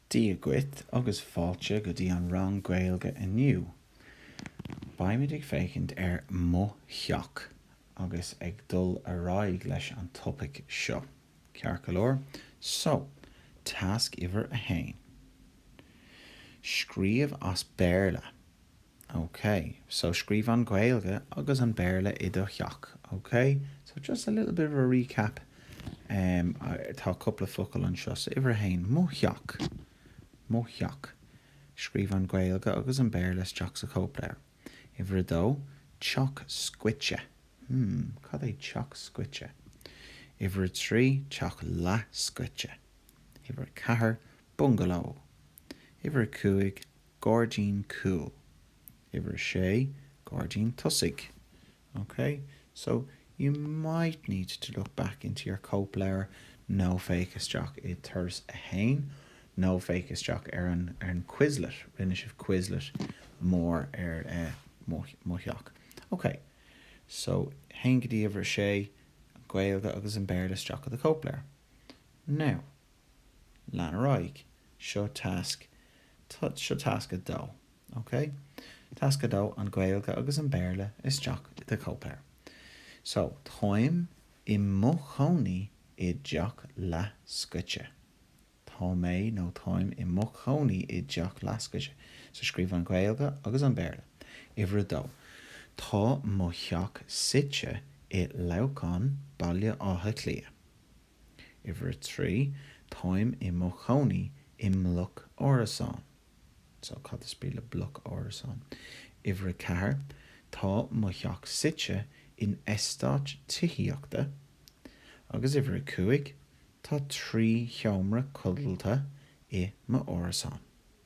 Dia dhuit agus fáilte go dtí an rang Gaeilge inniu. Beimid ag féachaint ar Mo Theach agus ag dul ar aghaidh leis an topaic seo, ceart go leor? So, tasc uimhir a haon. Scríobh as Béarla. Okay, so scríobh an Ghaeilge agus an Béarla i do theach, okay? So just a little bit of a recap, em, tá cúpla focal anseo. So uimhir a haon, mo theach, mo theach. Scríobh an Ghaeilge agus an Béarla isteach sa chóipleabhar. Uimhir a dó, teach scoite. Hmm, cad é teach scoite? Uimhir a trí, teach leathscoite. Uimhir a ceathair, bungaló. Uimhir a cúig, gairdín cúil. Uimhir a sé, gairdín tosaigh. OK? So, you might need to look back into your cóipleabhar nó féach isteach i Turas a hAon nó féach isteach ar an Quizlet, rinne sibh Quizlet mór ar mo theach. OK. So, a haon go dtí uimhir a sé, an Ghaeilge agus an Béarla isteach i do chóipleabhar. Now. Lean ar aghaidh. Seo tasc, seo tasc 2, ok? Tasc 2, an Gaeilge agus an Béarla isteach i do cóipleabhar. So, táim i mo chónaí i dteach leathscoite. Tá mé nó táim i mo chónaí i dteach leathscoite. So, scríobh an Ghaeilge agus an Béarla. Uimhir 2, Tá mo theach suite i Leamhcán, Baile Átha Cliath. Uimhir a trí, Táim i mo chónaí i mbloc árasán. So, cad is brí le bloc árasán? Uimhir a ceathair, Tá mo theach suite in eastát tithíochta. Agus uimhir a cúig, Tá trí sheomra codlata i mo árasán.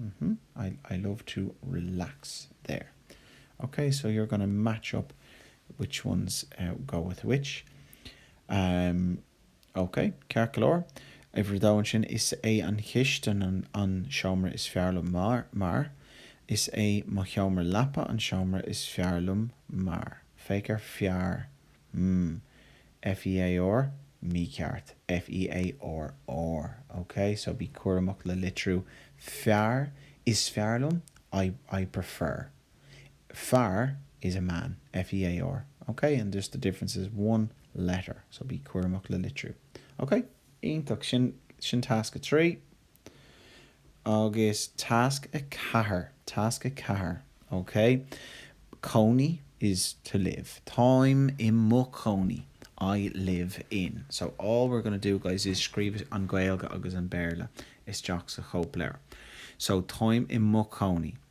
Mm-hmm. I love to relax there. Ok, so you're going to match up which ones go with which. Amm, ok, ceart go leor. Uimhir a dó ansin, is é an chistin an seomra is fearr liom mar. Is é mo sheomra leapa an seomra is fearr liom mar. Féach ar fearr FEAR, mícheart. FEARR, OK? So bí cúramach le litriú fearr, is fearr liom, I prefer. Fear is a man. FEAR, OK? And just the difference is one letter. So bí cúramach le litriú. OK? Iontach. Sin, sin tasc a trí. Agus tasc a ceathair. Tasc a ceathair, ok, cónaí is to live, táim i mo chónaí, I live in. So all we're going to do guys is scríobh an Ghaeilge agus an Béarla isteach sa chóipleabhar. So táim i mo chónaí.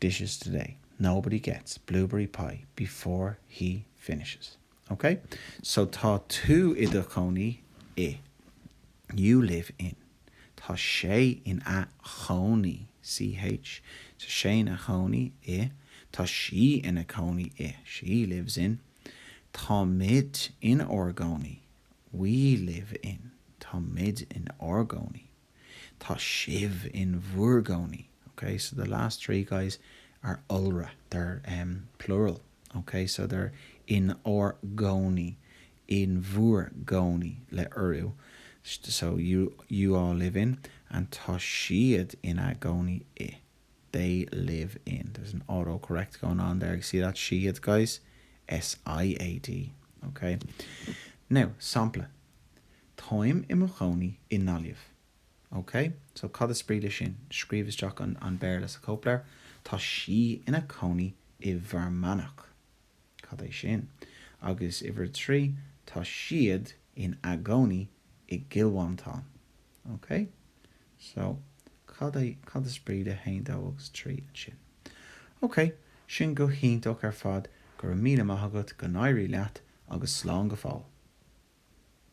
dishes today. Nobody gets blueberry pie before he finishes. Ok? So tá tú i do chónaí i You live in Tá sé ina chónaí CH Tá sé ina chónaí i Tá sí ina cónaí i She lives in Táimid inár gcónaí We live in Táimid inár gcónaí i. Tá sibh in bhur gcónaí, ok, so the last three guys are iolra, they're em plural, ok, so they're inár gcónaí, in bhur gcónaí le urú, so you you all live in and tá siad ina gcónaí i, they live in, there's an autocorrect going on there, you see that siad guys? S-i-a-d, ok? Now, sampla, Táim i mo chónaí i nGaillimh. Ok, so cad is brí le sin? Scríobh isteach an Béarla sa chóipleabhar. Tá sí ina cónaí i bhFear Manach. Cad é sin? Agus uimhir a trí, Tá siad ina gcónaí i gCill Mhantáin. Ok, so cad é, cad is brí le haon, dó agus trí ansin? Ok, sin go hiontach ar fad, go raibh míle maith agat, go n-éirí leat agus slán go fóill!